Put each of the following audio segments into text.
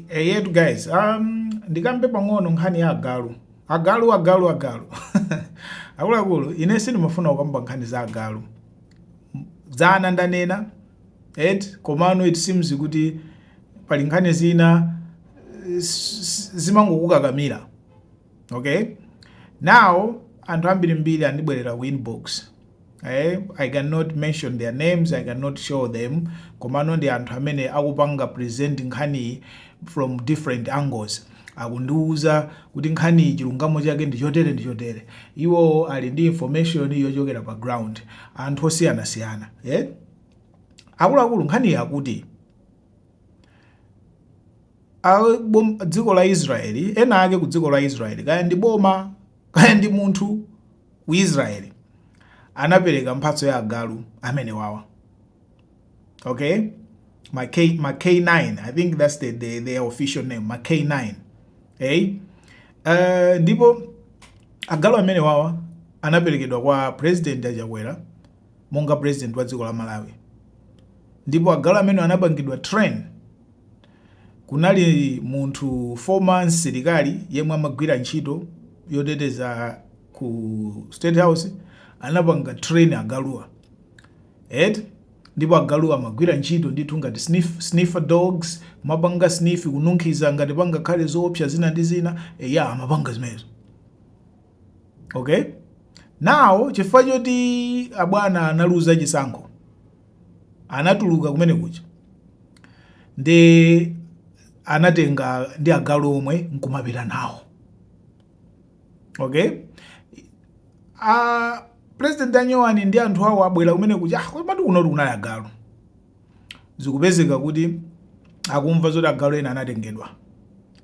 eyetu guys um, ndikambe pang'ono nkhani ya agalu agalu agalu agalu akuluakulu ine sindimafuna kukamba nkhani za agalu dzana ndanena et komano it seems kuti pali nkhani zina zimangokukakamira okay now anthu ambirimbiri andibwerera ku inbox eh, i cannot mention their names i cannot show them komano ndi anthu amene akupanga present nkhaniyi from different angles akundiwuza kuti nkhaniyi chilungamo chake ndi chotere ndi chotere iwowo ali ndi information yochokera pa ground anthu osiyanasiyana eh? akuluakulu nkhaniyi akuti A bom dziko la Israel ena ake ku dziko la Israel kaya ndi boma kaya ndi munthu ku Israel anapereka mphatso ya agalu amenewawa okay ma K ma K9 I think that's the, the, the official name ma K9 hey uh, ndipo agalu amenewawa anaperekedwa kwa president achakwera monga president wa dziko la Malawi ndipo agalu amenewa anapangidwa train Kunali munthu former msilikali yemwe amagwira ntchito yoteteza ku state house anapanga train agaluwa eti ndipo agaluwa amagwira ntchito ndithu ngati sniff, sniffer dogs kumapanga sniff kununkhiza ngati pangakhale zoopsa zina ndi zina eya amapanga zimenezo okay now chifukwa choti abwana analuza chisankho anatuluka kumene kuja ndi anatenga ndi agalu omwe nkumapita nawo okay a president anyowani ndi anthu awo abwera kumene kuja ah, komatu kuno kunali agalu zikupezeka kuti akumva zoti agalu ena anatengedwa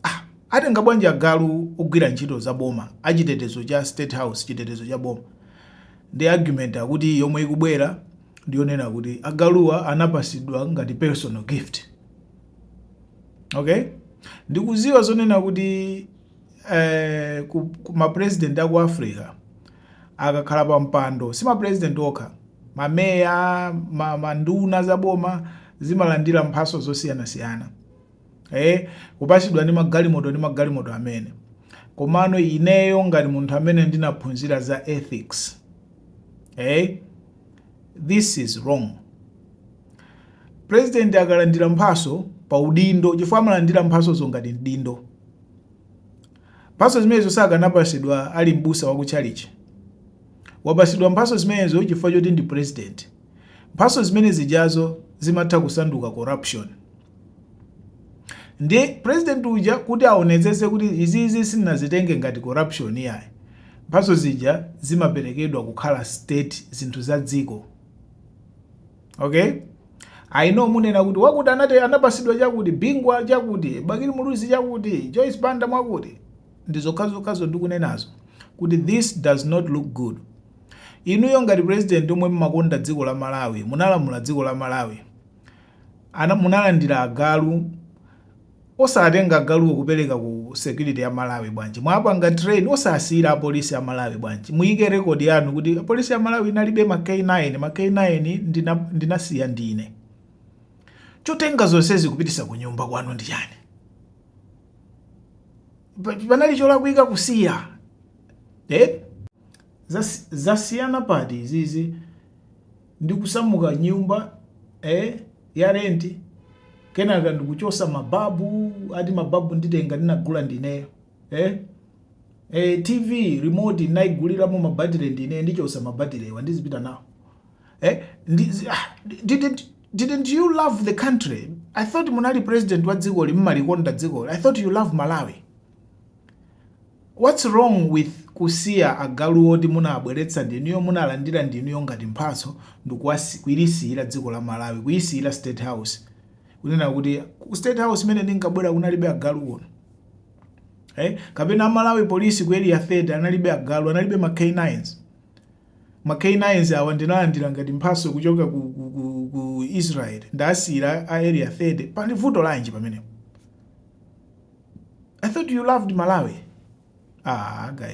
ah, atenga bwanji agalu ogwira ntchito za boma achitetezo cha state house chitetezo cha boma Ndi argument akuti yomwe ikubwera ndi yonena kuti agaluwa anapasidwa ngati personal gift. Okay? Ndikuziwa zonena kuti eh, ku, ku ma president aku Africa akakhala pa mpando si ma president okha mameya ma, manduna za boma zimalandira mphaso zosiyanasiyana ee kupasidwa ndi magalimoto ndi magalimoto amene komano ineyo ngati munthu amene ndinaphunzira za ethics ee this is wrong president akalandira mphaso pa udindo chifukwa amalandira mphasozo ngati mdindo mphaso zimenezo sakanapasidwa ali mbusa wa kutchalichi wapasidwa mphaso zimenezo chifukwa choti ndi president mphaso zimene zijazo zimatha kusanduka corruption Ndi president uja kuti aonetsetse kuti izizi sinazitenge ngati corruption iyayi. Mphatso zija zimaperekedwa kukhala state zinthu za dziko. Okay? I know munena kuti wakuti anapasidwa chakuti Bingwa chakuti Bakili Muluzi chakuti Joyce Banda mwakuti ndi zokhazokhazo ndikunenazo kuti this does not look good. Inuyo ngati president omwe mmakonda dziko la Malawi munalamula dziko la Malawi munalandila agalu osatenga agaluwo kupeleka ku security ya Malawi bwanji? Mwapanga train osasiyila a police a Malawi bwanji? Muyike record yanu kuti police ya Malawi inalibe ma k9 ma k9 ndinasiya ndine. Chotenga zonsezi kupitisa kunyumba kwanu ndi chani? Panali cholakwika kusiya eh? Zasiyana pati izizi? ndikusamuka nyumba eh ya rent kenaka ndikuchosa mababu ati mababu nditenga ndinagula ndineyo eh eh tv remote ndinayiguliramo mabatire ndineyo ndichosa mabatirewa ndizipita nawo eh ndizi, ah, didn't, didn't you love the country i thought munali president wa dzikoli mmalikonda dzikoli i thought you love malawi What's wrong with kusiya agalu oti munabweletsa ndinuyo munalandila ndinuyo ngati mphatso ndikuwasi kuilisiyila dziko la Malawi kuisiyila state house kunena kuti ku state house mmene ndinkabwela kunalibe agalu kuno eh kapena Malawi police ku area 30 analibe agalu analibe ma K9s Ma K-9s awa ndinalandila ngati mphaso kuchoka ku ku ku ku Israel ndasiyila a area 30 pali vuto lanji pamenepo I thought you loved Malawi aah guys.